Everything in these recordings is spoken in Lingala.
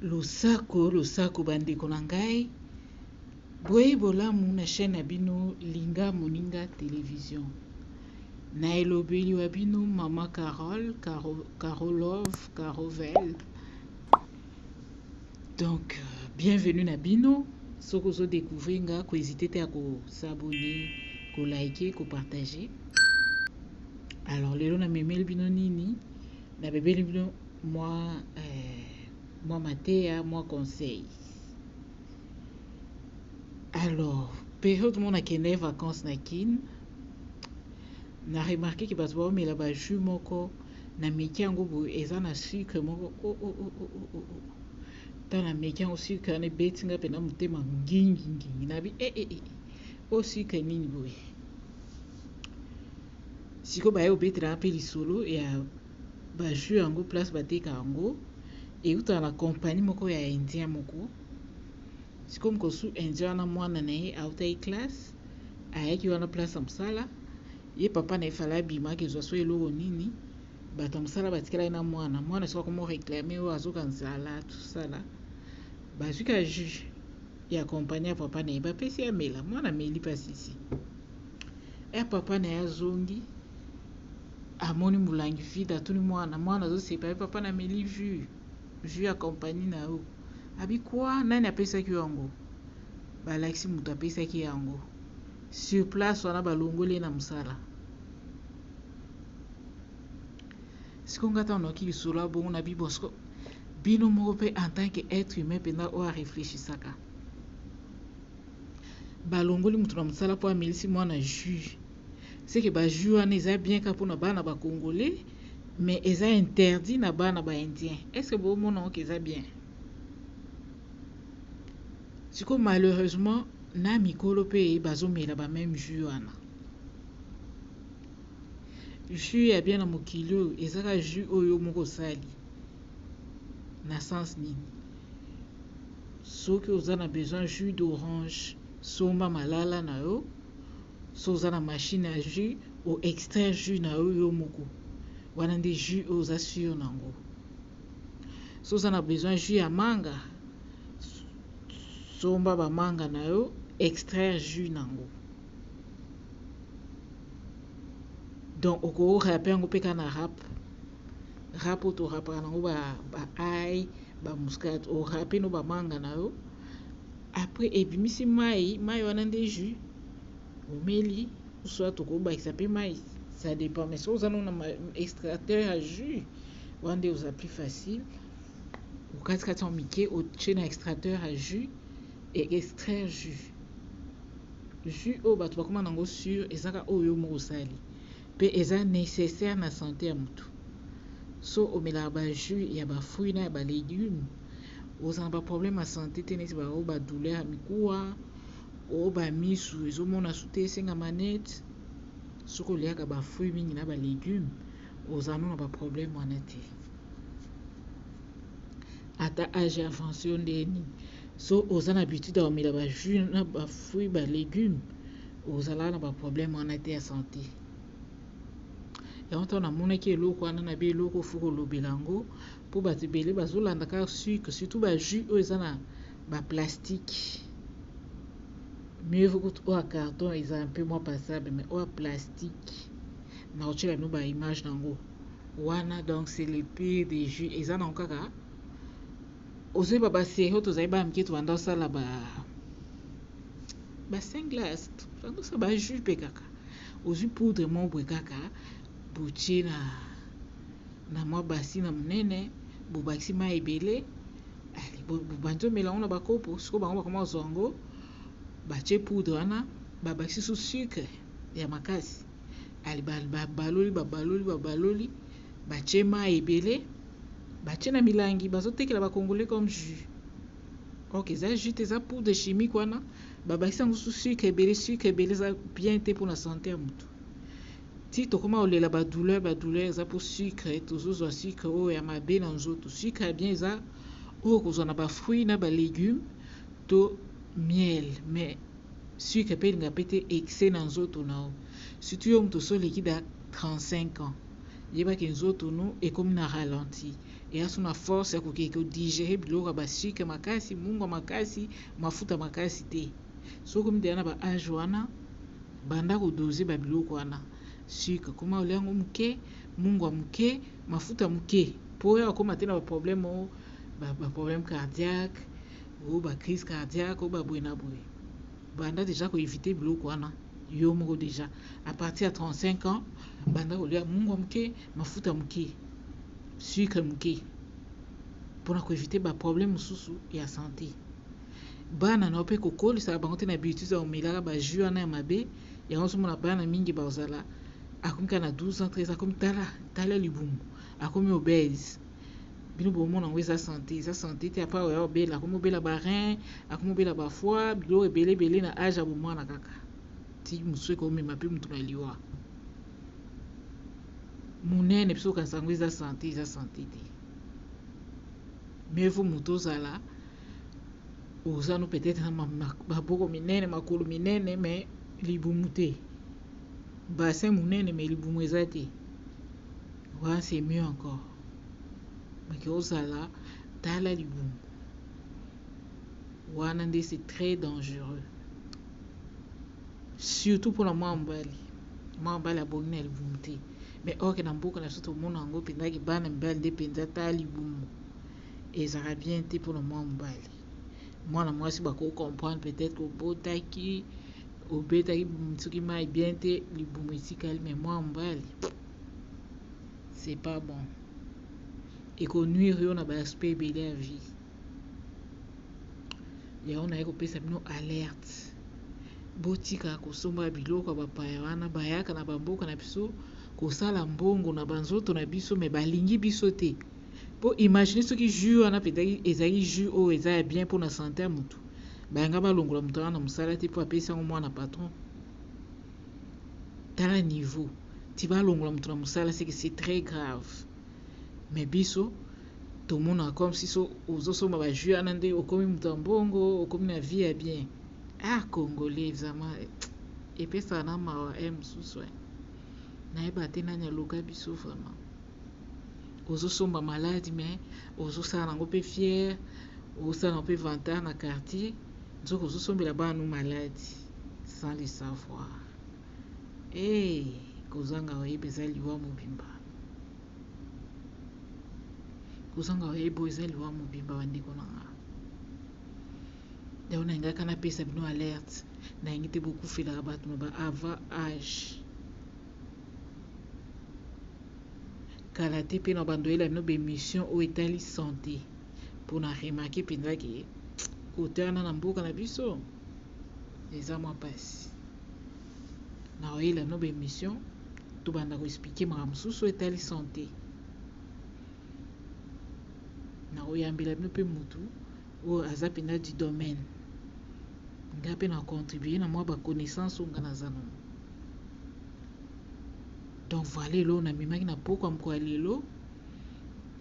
Losako losako ba ndeko na ngai boyeyi bolamu na chaine na bino linga moninga television na elobeli wa bino maman Carole Caro Carolove Carovel donc euh, bienvenue na bino soki ozo découvrir nga ko hésiter te ya ko s'abonner ko liker ko partager alors lelo na memeli bino nini na bebeli bino mwa eh, mwa mateya mwa conseil alors periode mona kende vacances na kin na remarke ke bato baomela bajus moko na meki yango boye eza na sucre moko o oh, o oh, o oh, o o ta na meki yango sucre wana ebeti nga mpenza motema ngingingingi nabi e e e o sucre nini boye sikoyo baye obetela mpe lisolo ya Ba jus yango place ba teka yango ewutaka na compagnie moko ya indien moko. Sikoyo mokolo su indien wana mwana na ye awutaki classe ayaki wana place ya mosala ye papa na ye fala abima akezwa so eloko nini bato ya mosala batikalaki na mwana mwana sikoyo akomo reclame oyo azoka nzala tosala bazwi ka jus ya compagnie ya papa na ye bapesi amela mwana ameli pasisi ya papa na ye azongi Amoni mulangi vide atuni mwana mwana azoseka ye papa na meli jus jus ya compagnie na yo abi quoi nani apesaki yo yango balakisi moto apesaki ye yango sur place wana balongoli ye na mosala siko nga ntango nayoki lisolo ya bongo na bibo siko bino moko mpe en tant que être humain mpenza oyo areflechisaka balongoli moto na mosala mpo amelisi mwana jus ce que ba jeux wana eza bien kaka pona bana ba congolais mais eza interdit na bana ba indien est ce que bo mona ngo ke eza bien siko malheureusement na mikolo pe bazo mela ba meme jeux wana jus ya bien na mokili oyo ezaka jus oyo moko osali na sens nini soki oza na besoin jus d'orange somba malala na yo soki oza na machine ya jus o extraire jus na yo yo moko wana nde jus oyo oza sur na yango soki oza na besoin jus ya manga somba bamanga na yo extraire jus na yango donc okorape yango mpe kaka na rap rap oyo torapaka na yango ba ai bamuscade orape no bamanga na yo après ebimisi mayi mayi wana nde jus omeli soit okobakisa pe mayi ça dépend mais soki oza nanu na extracteur ya jus wana nde oza plus facile okati kati yango mike otie na extracteur ya jus et extraire jus jus oyo bato bakoma nango sur ezaka oyo yo moko osali pe eza necessaire na sante ya moto so omelaka ba jus ya ba fruits na ya ba legumes Oza na ba problème ya sante te neti ba oyo ba douleur ya mikuwa, oyo ba misu ezo mona su te esenga manette. Soki oliaka ba fruits mingi na ba legumes oza no na ba problème wana te. Ata age avance yo nde nini. So oza na habitude ya komela ba jus na ba fruits ba legumes ozalaka na ba problème wana te ya sante. Yango ntango namonaki eloko wana na bi eloko fo kolobela yango Po batu ebele bazo landa ka sucre surtout ba jus oyo eza na ba plastique mieux vaut kutu oyo ya carton eza un peu moins passable mais oyo ya plastique na kotiela bino ba image nango wana donc c'est le pire des jus eza nango kaka ozoyeba ba serie oyo tozali bana mike tobanda kosala ba ba saint glace tobanda kosala ba jus mpe kaka ozwi poudre moko boye kaka botie na na mwa basi na monene bobakisi mai ebele bobandi omela yango na bakopo sikoyo bango bakoma kozwa yango batie poudre wana babakisi su sucre ya makasi babaloli babaloli babaloli batie mai ebele batie na milangi bazotekela bacongolais comme jus ok eza jus te eza poudre chimique wana babakisi yango su sucre ebele sucre ebele eza bien te mpona sante ya motu Ti tokoma kolela ba douleur ba douleur eza po sucre tozo zwa sucre oyo ya mabe na nzoto sucre ya bien eza oyo okozwa na ba fruits na ba legumes to miel mais sucre pe elinga pe te excès na nzoto na yo surtout yo moto osi oleki da 35 ans yeba ke nzoto no ekomi na ralenti eya so na force ya koke ko digerer biloko ya ba sucre makasi mungwa makasi mafuta makasi te. soki okomi deja na ba age wana banda ko doser ba biloko wana sucre koma olia yango muke mungwa muke mafuta muke po oya okoma te na ba problème o ba, ba problème cardiaque o ba crise cardiaque o ba boye na boye banda deja ko éviter biloko wana yo moko deja à partir ya 35 ans banda kolia mungwa muke mafuta muke sucre muke pona ko éviter ba problème mosusu ya santé bana na yo pe kokolisaka bango te na betises ya komelaka ba jus wana ya mabe yango ozomona bana mingi bakozala akomi kaka na 12 ans 13 ans akomi tala tala libumu akomi obese bino bomona yango eza sante eza sante te apa oya obela akomi obela ba rein akomi obela ba foie biloko ebele ebele na age ya bomwana kaka ti mosusu ekomema pe motu na liwa monene biso okanisa yango eza sante eza sante te mais faut moto ozala oza no peut-être na maboko minene makolo minene me libumu te bassin monene me libumu eza te wana c'est mieux encore meke ozala tala libumu wana nde c'est très dangereux surtout mpona mwa mobali mwa mobali abongi na libumu te mais orke na mboka na biso tomona yango mpenzaki bana mibali nde mpenza ta libumu ezalaka bien te pona mwana mobali mwana mwasi ba ko comprendre peut-etre obotaki obetaki soki mayi bien te libumu etikali mais mwana mobali c'est pas bon eko nuire yo na ba aspect ebele ya vie yango naye kopesa bino alerte botika kosomba biloko ya bapaya wana bayaka na bamboka na biso kosala mbongo na banzoto na biso me balingi biso te po imagine soki jus wana petaki ezali jus oyo eza ya bien pona sante ya mutu bayanga balongola mutu wana na musala te po apesi yango mwana patron tala niveau ti balongola mutu na musala seke c'est très grave mais biso tomona comme si so ozosomba ba jus wana nde okomi mutu ya mbongo okomi na vie ya bien ah congolais vraiment epesaka na mawa e eh, mosusu eh. nayeba te nani aloka biso vraiment ozo somba malade mais ozo sala nango pe fière ozo sala nango pe vantard na quartier nzoka ozo sombela bana no malade sans le savoir hey kozanga oyeba eza liwa mobimba kozanga oyeba eza liwa mobimba bandeko na nga yango na lingaka napesa bino alerte na yangi te bokufelaka bato na ba avant age kala te mpe na bandoyela bino bemission oyo etali sante mpo na remake mpenza ke kote wana na mboka na biso eza mwa mpasi na oyela bino bemission tobanda koexplike makambo mosusu oyo etali sante na oyambela bino mpe motu oyo aza pena du domaine nga pe na contribuer na mwa ba connaissance oyo nga naza nango donc voilà eloko namemaki na pokwa mokolo ya lelo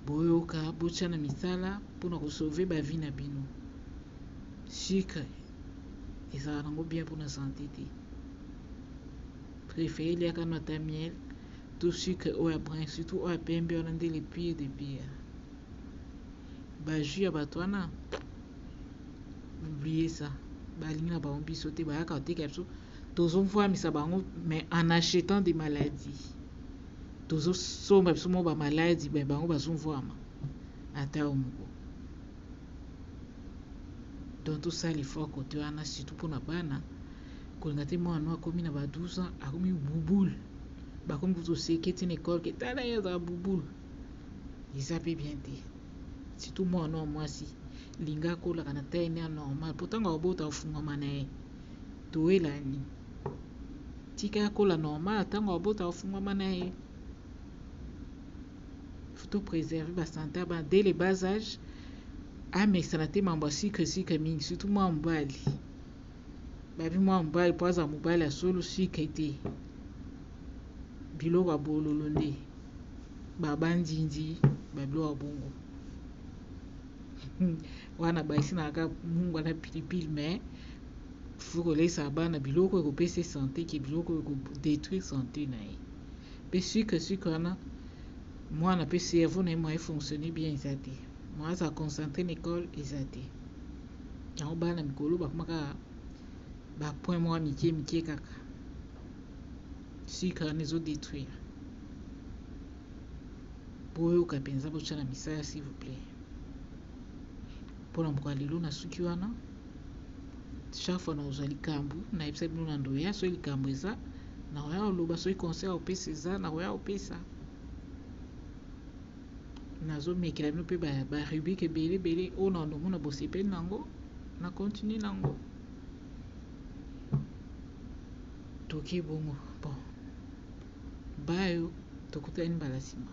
boyoka botya na misala mpo na kosauve bavi na bino sucre ezala nango bien mpo na sante te prefere liaka no ata miel to sucre oyo ya brin surtout oyo ya pembe wana nde le pire de pire ba jus ya bato wana oublie ça balingi na bango biso te bayaka koteka biso tozofwamisa bango mais en achetant des maladies tozosomba biso moko bamaladi me bango bazofwama ata yo moko donc tosala effort kote wana surtout mpona bana kolinga te mwana no akomi na ba 12 ans akomi bubule bakomi kutu oseketi na ekole ke tala ye azala bubule eza pe bien te surtout muana nayo muasi linga akolaka na taille naye ya normal po tangu akobota ofungwama naye toyelani tika ye akola normal tangu akobota ofungwama naye faut to preserve ba sante ya bana dès le bas age amesana te mambo ya sucre sucre mingi surtout muana mobali Babi mwa mobali mpo aza mobali ya solo sucre te biloko ya bololo nde babandindi babiloko ya bongo wana bayisi na kaka mungwa na pilipili me faut koleisa bana biloko ekopesa sante ke biloko ekodetruire sante na ye mpe sucre sucre wana mwana mpe cerveau na ye moye fonctionne bien eza te mwa aza concentre na ekole eza te yango baya na mikolo bakoma kaka ba point mwa mike mike kaka sucre wana ezo detruire boyoka mpenza botya na misala s'il vous plaît mpo na mokolo lelo na suki wana chaque fois nakozwa likambo nayebisa bino na ndoya soki likambo eza nakoya koloba soki conseil opesa eza nakoya kopesa nazo mekela bino pe ba, ba rubrique ebele ebele oyo na nomona bosepeli na yango na continue na yango toke bongo bon bayo tokutani mbala nsima